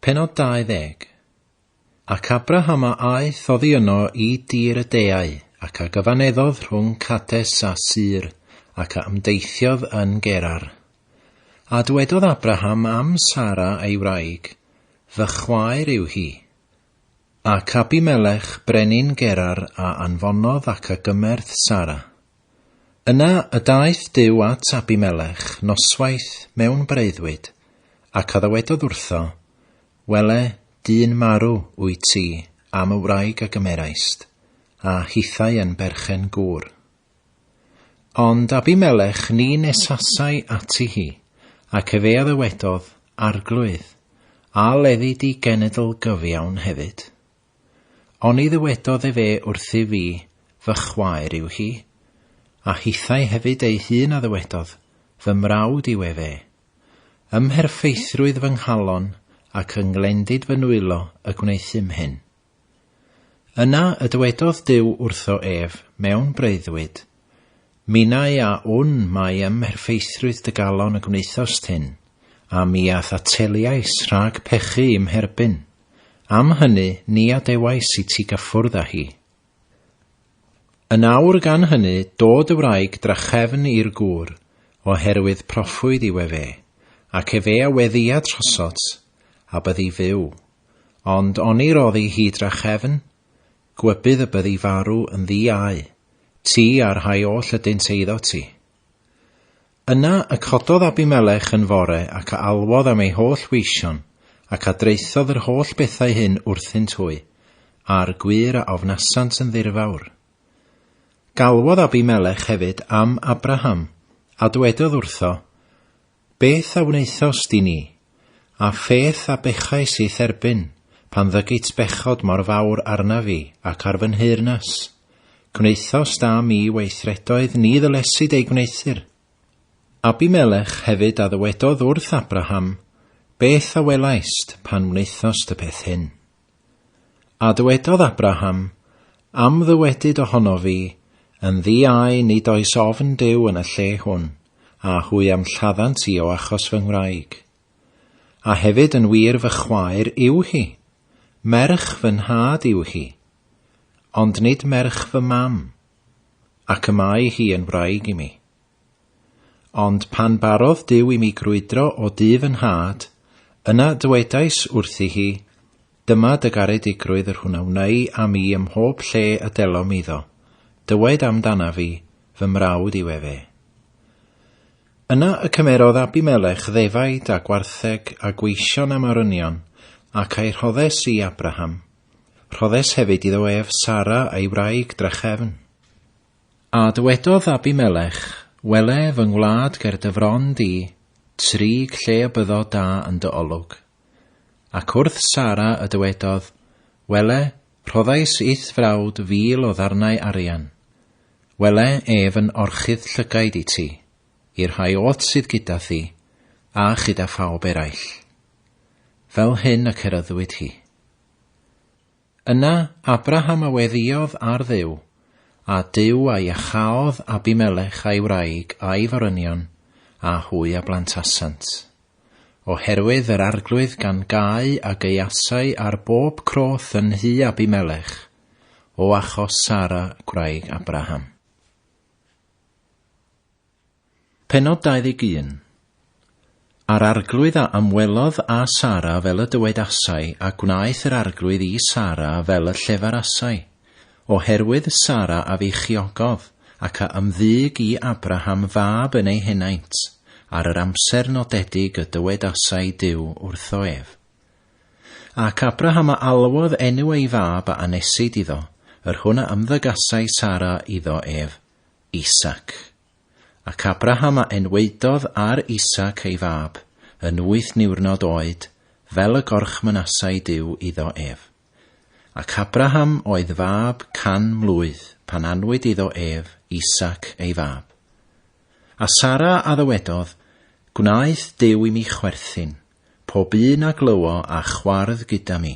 Pennod 20 Ac Abraham a aeth oddi yno i dir y deau, ac a gyfaneddodd rhwng Cades a Sur, ac a ymdeithiodd yn Gerar. A dwedodd Abraham am Sara ei wraig, Fy chwaer yw hi. Ac Abimelech, brenin Gerar, a anfonodd ac a gymerth Sara. Yna y daeth Duw at Abimelech noswaith mewn breuddwyd, ac a ddywedodd wrtho, Wele, dyn marw wyt ti am y wraig a gymeraist, a hithau yn berchen gŵr. Ond Abimelech ni nesasai ati hi, ac efe a ddywedodd, Arglwydd, a leddi di genedl gyfiawn hefyd? Oni ddywedodd efe wrthyf fi, Fy chwaer yw hi? A hithau hefyd ei hun a ddywedodd, Fy mrawd yw efe. Ym mherffeithrwydd fy nghalon ac yng nglendid fy nwylo y gwneuthum hyn. Yna y dywedodd Duw wrtho ef mewn breuddwyd, Minnau a wn mai ym mherffeithrwydd dy galon y gwnaethost hyn, a mi a thateliais rhag pechu i'm herbyn. Am hynny ni adewais i ti gyffwrdd â hi. Yn awr gan hynny dod y wraig drachefn i'r gŵr, oherwydd proffwyd yw efe, ac efe a weddïa trosot, a byddi fyw. Ond oni roddi hi drachefn? Gwybydd y byddi farw yn ddi au, ti a'r rhai oll ydynt eiddo ti. Yna y cododd Abimelech yn fore ac a alwodd am ei holl weision, ac a draethodd yr holl bethau hyn wrthynt hwy, a'r gwŷr a ofnasant yn ddirfawr. Galwodd Abimelech hefyd am Abraham, a dwedodd wrtho, Beth a wnaethost i ni? A pheth a bechais i'th erbyn, pan ddygit bechod mor fawr arna fi, ac ar fy nheyrnas? Gwnaethost â mi weithredoedd ni ddylesid eu gwneuthur. Abimelech hefyd a ddywedodd wrth Abraham, Beth a welaist, pan wnaethost y peth hyn? A dywedodd Abraham, Am ddywedyd ohonof fi, Yn ddi-au nid oes ofn Duw yn y lle hwn, a hwy a'm lladdant i o achos fy ngwraig. A hefyd yn wir fy chwaer yw hi, merch fy nhad yw hi, ond nid merch fy mam, ac y mae hi yn wraig i mi. Ond pan barodd Duw i mi grwydro o du fy nhad, yna dywedais wrthi hi, Dyma dy garedigrwydd yr hwn a wnei â mi ym mhob lle y delom iddo, dywed am dana fi, Fy mrawd yw efe. Yna y cymerodd Abimelech ddefaid a gwartheg a gweision am arynion, ac a'i rhoddes i Abraham. Rhoddes hefyd iddo ef Sara a'i wraig drachefn. A dywedodd Abimelech, Wele fy ngwlad ger dy fron di, trig lle y byddo da yn dy olwg. Ac wrth Sara y dywedodd, Wele, rhoddais i'th frawd fil o ddarnau arian. Wele ef yn orchudd llygaid i ti, i'r rhai oll sydd gyda thi, a chyda phawb eraill. Fel hyn y cerryddwyd hi. Yna Abraham a weddïodd ar Dduw, a Duw a iacháodd Abimelech a'i wraig a'i forynion, a hwy a blantasant. Oherwydd yr arglwydd gan gau a gaeasai ar bob croth yn nhŷ Abimelech, o achos Sara gwraig Abraham. Pennod 21. A'r arglwydd a ymwelodd â Sara fel y dywedasai, a gwnaeth yr arglwydd i Sara fel y llefarasai, oherwydd Sara a feichiogodd, ac a ymddug i Abraham fab yn ei henaint, ar yr amser nodedig y dywedasai Duw wrtho ef. Ac Abraham a alwodd enw ei fab a anesid iddo, yr hwn a ymddygasai Sara iddo ef, Isaac. Ac Abraham a enwaedodd ar Isaac ei fab, yn wyth niwrnod oed, fel y gorchmynasai Duw iddo ef. Ac Abraham oedd fab can mlwydd pan anwyd iddo ef Isaac ei fab. A Sara a ddywedodd, Gwnaeth Duw i mi chwerthin, pob un a glywo a chwardd gyda mi,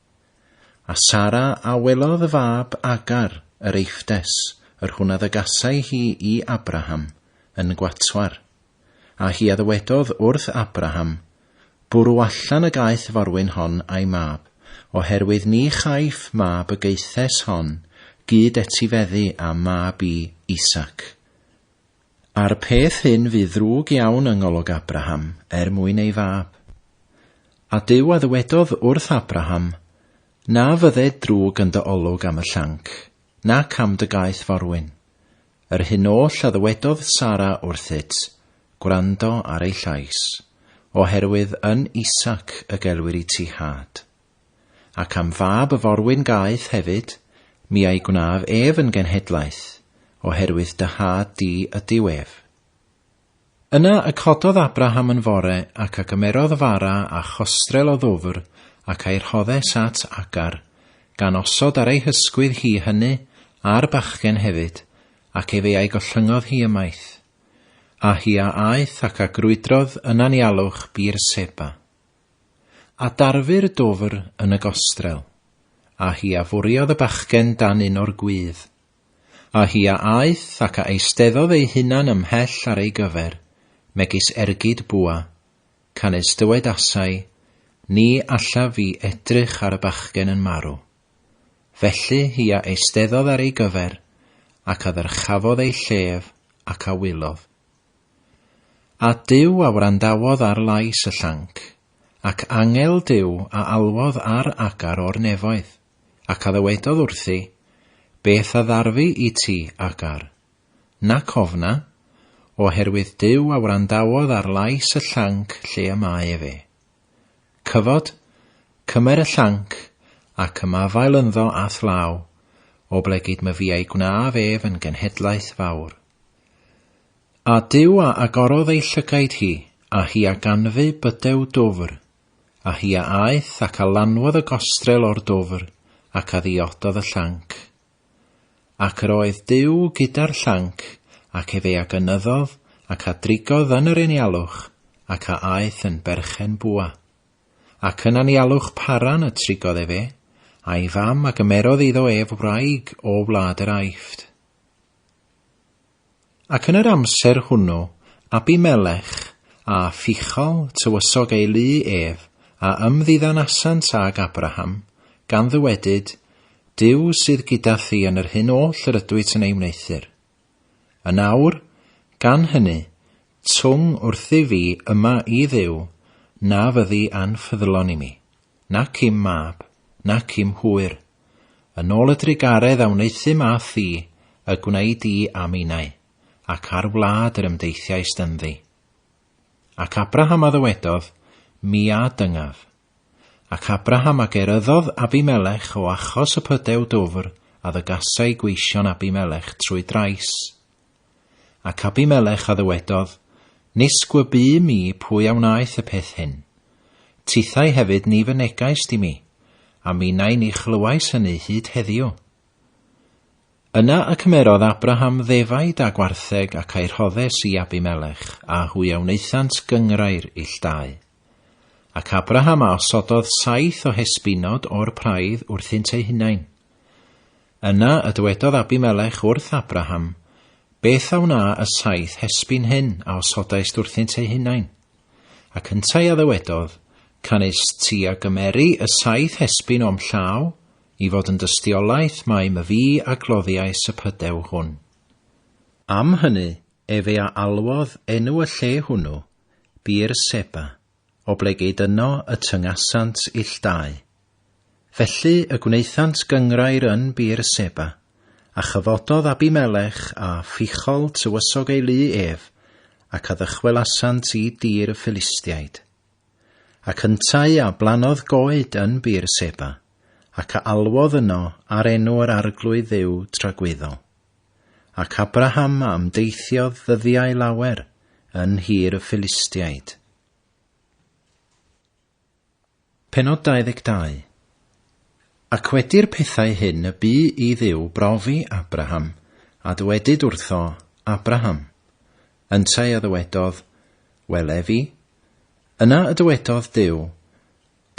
A Sara a welodd y fab Agar, yr Eiffdes, yr hwn a ddygasai hi i Abraham, yn gwatwar. A hi a ddywedodd wrth Abraham, Bwrw allan y gaeth forwyn hon a'i mab, oherwydd ni chaiff mab y gaethes hon gyd etifeddu â mab i, Isaac. A'r peth hyn fu ddrwg iawn yng ngolwg Abraham er mwyn ei fab. A Duw a ddywedodd wrth Abraham, Na fydde drwg yn dy olwg am y llanc, nac am dy gaeth forwyn. Yr hyn oll a ddywedodd Sara wrthyt, gwrando ar ei llais, oherwydd yn Isaac y gelwir i ti had. Ac am fab y forwyn gaeth hefyd, mi a'i gwnaf ef yn genhedlaeth, oherwydd dy nhad di ydyw ef. Yna y cododd Abraham yn fore, ac a gymerodd fara a chostrel o ddwfr, ac a'i rhoddes at Agar, gan osod ar ei hysgwydd hi hynny, a'r bachgen hefyd, ac efe a'i gollyngodd hi ymaith. A hi a aeth ac a grwydrodd yn anialwch Beer-seba. A darfu'r dwfr yn y gostrel, a hi a fwriodd y bachgen dan un o'r gwydd. A hi a aeth ac a eisteddodd ei hunan ymhell ar ei gyfer, megis ergyd bwa, canys dywedasai, Ni allaf fi edrych ar y bachgen yn marw. Felly hi a eisteddodd ar ei gyfer, ac a ddyrchafodd ei llef, ac a wylodd. A Duw a wrandawodd ar lais y llanc, ac angel Duw a alwodd ar Agar o'r nefoedd, ac a ddywedodd wrthi, Beth a ddarfu i ti, Agar? Nac ofna, oherwydd Duw a wrandawodd ar lais y llanc lle y mae efe. Cyfod, cymer y llanc, ac ymafael ynddo a'th law, oblegid myfiau gwnaf ef yn genhedlaeth fawr. A Duw a agorodd ei llygaid hi, a hi a ganfu bydew dwfr, a hi a aeth ac a lanwodd y gostrel o'r dwfr, ac a ddiododd y llanc. Ac yr oedd Duw gyda'r llanc, ac efe a gynyddodd, ac a drigodd yn yr enialwch, ac a aeth yn berchen bwa. Ac yn anialwch Paran y trigodd efe, a'i fam, a gymerodd iddo ef wraig o wlad yr Aifft. Ac yn yr amser hwnnw Abimelech a Phichol tywysog ei lu ef, a ymddiddanasant ag Abraham, gan ddywedyd, Duw sydd gyda thi yn yr hyn oll yr ydwyt yn ei wneuthur. Yn awr, gan hynny, twng wrthyf fi yma i Dduw, na fyddi anffyddlon i mi, nac i'm mab, nac i'm hwyr, Yn ôl y drugaredd a wneuthum â thi, y gwneud di a minnau, ac ar wlad yr ymdeithiaist ynddi. Ac Abraham a ddywedodd, Mi a dyngaf. Ac Abraham a geryddodd Abimelech o achos y pydew dwfr a ddygasai gweision Abimelech trwy drais, Ac Abimelech a ddywedodd, Nis gwy bu mi pwy a wnaeth y peth hyn. Tithau hefyd ni fynegaist i mi, a minnau ni chlywais hynny hyd heddiw. Yna y cymerodd Abraham ddefaid a gwartheg ac a'i rhoddes i Abimelech, a hwy a wnaethant gynghrair ill dau. Ac Abraham a osododd saith o hesbinod o'r praidd wrthynt eu hunain. Yna y dywedodd Abimelech wrth Abraham, Beth a wna y saith hesbyn hyn a osodaist wrthynt eu hunain? Ac yntau a ddywedodd, Canys ti a gymeri y saith hesbyn o'm llaw, i fod yn dystiolaeth mai my fi a gloddiais y pydew hwn. Am hynny efe a alwodd enw y lle hwnnw, Beer-seba, oblegid yno y tyngasant ill dau. Felly y gwnaethant gynghrair yn Bir Seba, a chyfododd Abimelech a Phichol tywysog ei lu ef, ac a ddychwelasant i dir y Ffilistiaid. Ac yntau a blannodd goed yn Bir Seba, ac a alwodd yno ar enw yr Arglwydd Dduw tragwyddol. Ac Abraham a ymdeithiodd ddyddiau lawer yn nhir y Ffilistiaid. Pennod 22 Ac wedi'r pethau hyn y bu i Dduw brofi Abraham, a dywedyd wrtho, Abraham. Yntau a ddywedodd, Wele fi. Yna y dywedodd Duw,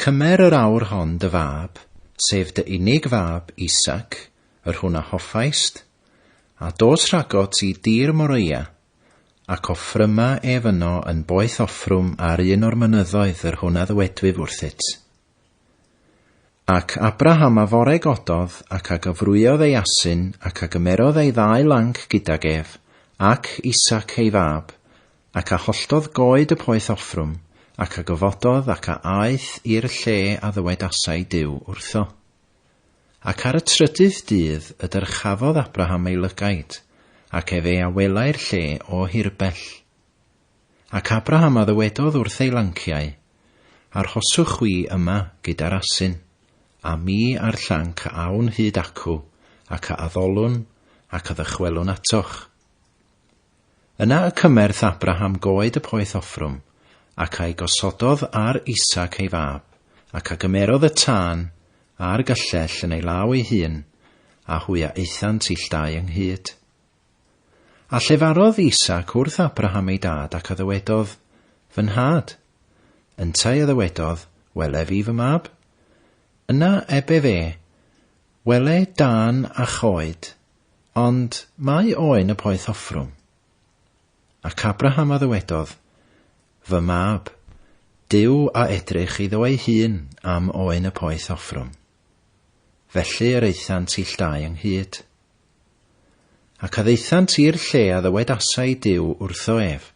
Cymer yr awr hon dy fab, sef dy unig fab Isaac, yr hwn a hoffaist, a dos rhago ti dir Moriah, Ac offryma ef yno yn boeth offrwm ar un o'r mynyddoedd yr hwn a ddywedwyf wrthyt. Ac Abraham a fore gododd, ac a gyfrwyodd ei asyn, ac a gymerodd ei ddau lanc gydag ef, ac Isaac ei fab, ac a holltodd goed y poeth offrwm, ac a gyfododd ac a aeth i'r lle a ddywedasai Duw wrtho. Ac ar y trydydd dydd y dyrchafodd Abraham ei lygaid, ac ef ei a welai'r lle o hirbell. Ac Abraham a ddywedodd wrth ei lanciau, Arhoswch chwi yma gyda'r asyn, a mi a'r llanc a awn hyd acw, ac a addolwn, ac a ddychwelwn atoch. Yna y cymerth Abraham goed y poeth Offrwm, ac a'i gosododd ar Isaac ei fab, ac a gymerodd y tân, a'r gyllell, yn ei law ei hun, a hwy a aethant ill dau ynghyd. A llefarodd Isaac wrth Abraham ei dad, ac a ddywedodd, Fy nhad! Yntau a ddywedodd, Wele fi fy mab? Yna ebe fe, Wele dân a choed, Ond mae oen y poeth hoffrwm. Ac Abraham a ddywedodd, Fy mab, Duw a edrych iddo ei hun am oen y poeth hoffrwm. Felly yr aethant ill dau ynghyd. Ac a ddeithant i'r lle a ddywedasai Duw wrtho ef,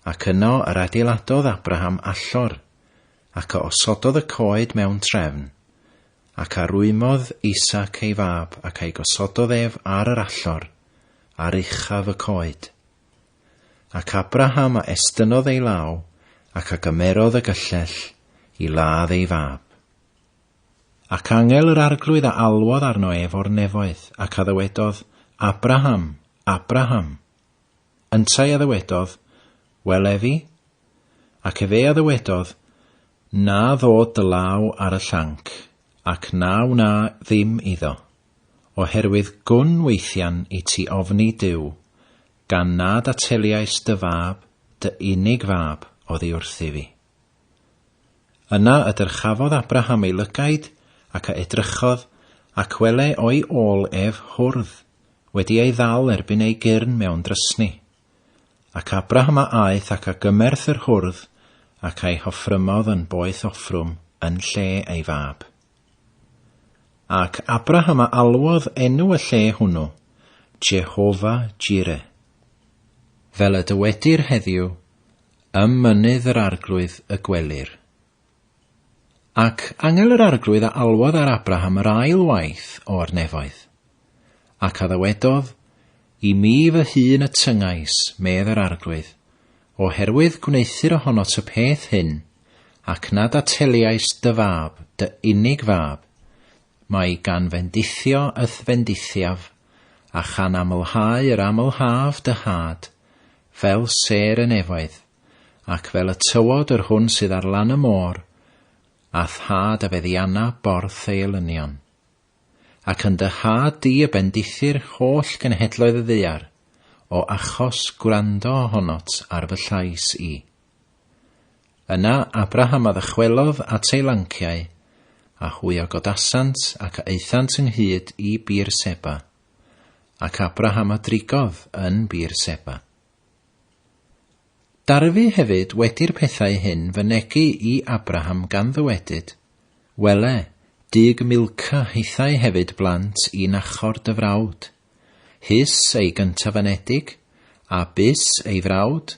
ac yno yr adeiladodd Abraham allor, ac a osododd y coed mewn trefn, ac a rwymodd Isaac ei fab ac a'i gosododd ef ar yr allor, ar uchaf y coed. Ac Abraham a estynnodd ei law, ac a gymerodd y gyllell i ladd ei fab. Ac angel yr arglwydd a alwodd arno ef o'r nefoedd, ac a ddywedodd, Abraham, Abraham, Yntau a ddywedodd, Wel efi? Ac efe a ddywedodd, Na ddod dy law ar y llanc, ac na wna ddim iddo, oherwydd gwn weithian i ti ofni Duw, gan nad ateliais dy fab, dy unig fab oddi wrthifi. Yna y dyrchafodd Abraham ei lygaid, ac a edrychodd, ac wele o'i ôl ef hwrdd, wedi ei ddal erbyn ei gyrn mewn drysni. Ac Abraham a aeth ac a gymerth yr hwrdd, ac a'i hoffrymodd yn boeth offrwm yn lle ei fab. Ac Abraham a alwodd enw y lle hwnnw, Jehovah-jireh. Fel y dywedir heddiw, ym Mynydd yr Arglwydd y gwelir. Ac angel yr Arglwydd a alwodd ar Abraham yr ail waith o'r nefoedd. Ac a ddywedodd, I mi fy hun y tyngais, medd yr Arglwydd, oherwydd gwneuthur ohono y peth hyn, ac nad ateliais dy fab, dy unig fab, Mae gan fendithio y'th fendithiaf, a chan amlhau yr amlhaf dy had, fel sêr y nefoedd, ac fel y tywod yr hwn sydd ar lan y môr, a'th had a feddianna borth ei elynion. Ac yn dy had di y bendithir holl genhedloedd y ddaear, o achos gwrando ohonot ar fy llais i. Yna Abraham a ddychwelodd at ei lanciau, a hwy a godasant ac a aethant ynghyd i Bir Seba, ac Abraham a drigodd yn Bir Seba. Darfu hefyd wedi'r pethau hyn fynegi i Abraham gan ddywedyd, Wele, dug Milca hithau hefyd blant i Nachor dy frawd, hys ei gyntaf-anedig, a bys ei frawd,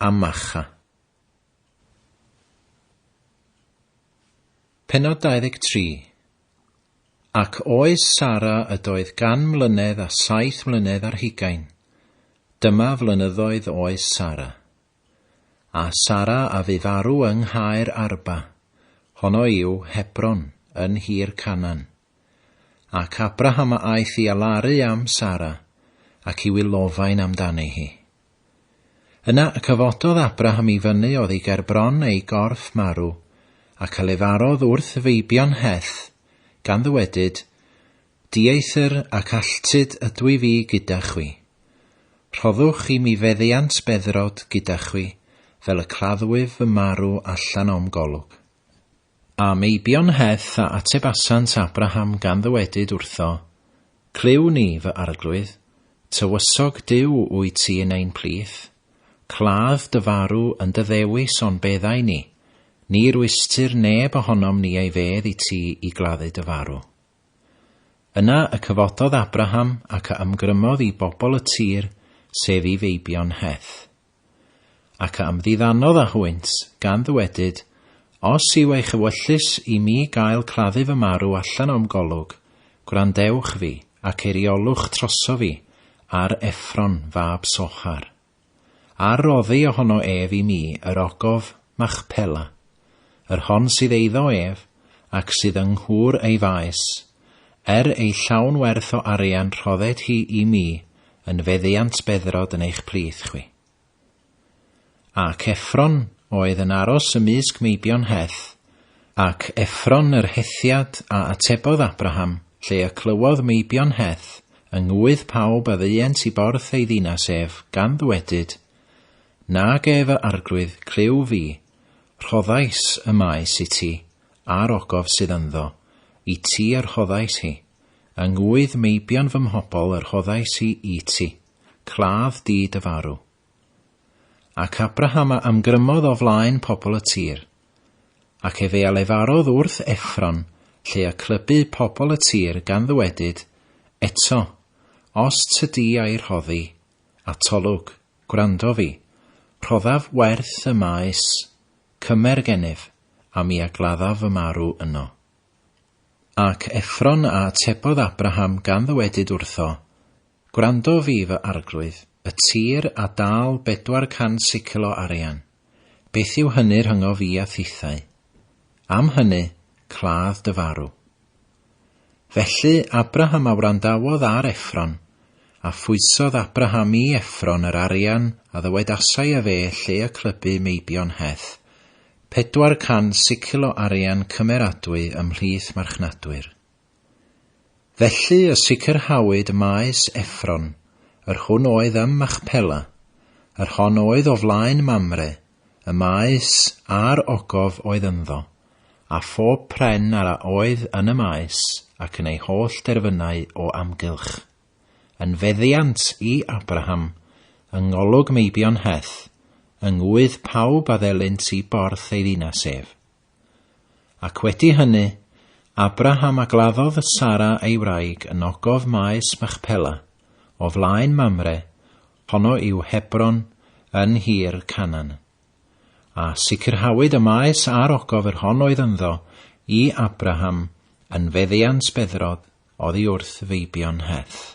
a Macha. Penod 23 Ac oes Sara ydoedd gan mlynedd a saith mlynedd ar hugain. Dyma flynyddoedd oes Sara. A Sara a fu farw yng nghaer Arba, honno yw Hebron, yn hir Canan. Ac Abraham a aeth i alaru am Sara, ac i wylofain amdani hi. Yna y cyfododd Abraham i fyny oddi ger bron ei gorff marw, ac a lefarodd wrth feibion Heth, gan ddywedyd, Dieithr ac alltud ydw i fi gyda chwi. Rhoddwch i mi feddiant beddrod gyda chwi, fel y claddwyf fy marw allan o'm golwg. A meibion heth a atebasant Abraham gan ddywedyd wrtho, Clyw ni, fy arglwydd, tywysog Duw wyt ti yn ein plith, cladd dy farw yn dy ddewis on beddau ni, ni rwystr neb ohonom ni ei fedd i ti i gladdu dy farw. Yna y cyfododd Abraham ac a ymgrymodd i bobl y tir, sef i feibion heth. Ac a ymddiddanodd â hwynt, gan ddywedyd, Os yw eich ewyllys i mi gael claddu fy marw allan o'm golwg, gwrandewch fi, ac eiriolwch troso fi ar Effron fab Sochar. A'r roddi ohono ef i mi yr ogof Machpela, yr hon sydd eiddo ef, ac sydd yng nghwr ei faes, er ei llawn werth o arian rhodded hi i mi yn feddiant beddrod yn eich plith chwi. Ac Effron oedd yn aros ymysg meibion Heth, ac Effron yr Hethiad a atebodd Abraham, lle y clywodd meibion Heth yng ngwydd pawb a ddeuent i borth ei ddinas ef, gan ddwedyd, Na ge fy arglwydd, clyw fi, Rhoddais y maes i ti, a'r ogof sydd ynddo, i ti a rhoddais hi, yng ngŵydd meibion fy mhobl a rhoddais hi i ti, claf di dy farw. Ac Abraham a ymgrymodd o flaen pobl y tir, ac efe a lefarodd wrth Effron, lle y clybu pobl y tir gan ddywedyd, Eto, os tydi a'i rhoddi, atolwg. Gwrando fi. Rhoddaf werth y maes cymer gennyf, a mi a gladdaf fy marw yno. Ac Effron a atebodd Abraham gan ddywedyd wrtho, Gwrando fi, fy arglwydd, y tir a dâl bedwar cant sicl o arian, Beth yw hynny rhyngof i a thithau? Am hynny, cladd dy farw. Felly Abraham a wrandawodd ar Effron, a phwysodd Abraham i Effron yr arian a ddywedasai ef e lle y clybu meibion Heth, pedwar cant sicil o arian cymeradwy ymhlith marchnadwyr. Felly y sicrhawyd y maes Effron, yr hwn oedd ym Machpela, yr hon oedd o flaen Mamre, y maes, a'r ogof oedd ynddo, a phob pren ar a oedd yn y maes, ac yn ei holl derfynau o amgylch. Yn feddiant i Abraham, yng ngolwg meibion Heth, yng ngŵydd pawb a ddelint i borth ei ddinas ef. Ac wedi hynny, Abraham a gladdodd Sara ei wraig yn ogof maes Machpela, o flaen Mamre, honno yw Hebron, yn nhir Canan. A sicrhawyd y maes a'r ogof yr hon oedd ynddo i Abraham yn feddiant beddrod oddi wrth feibion Heth.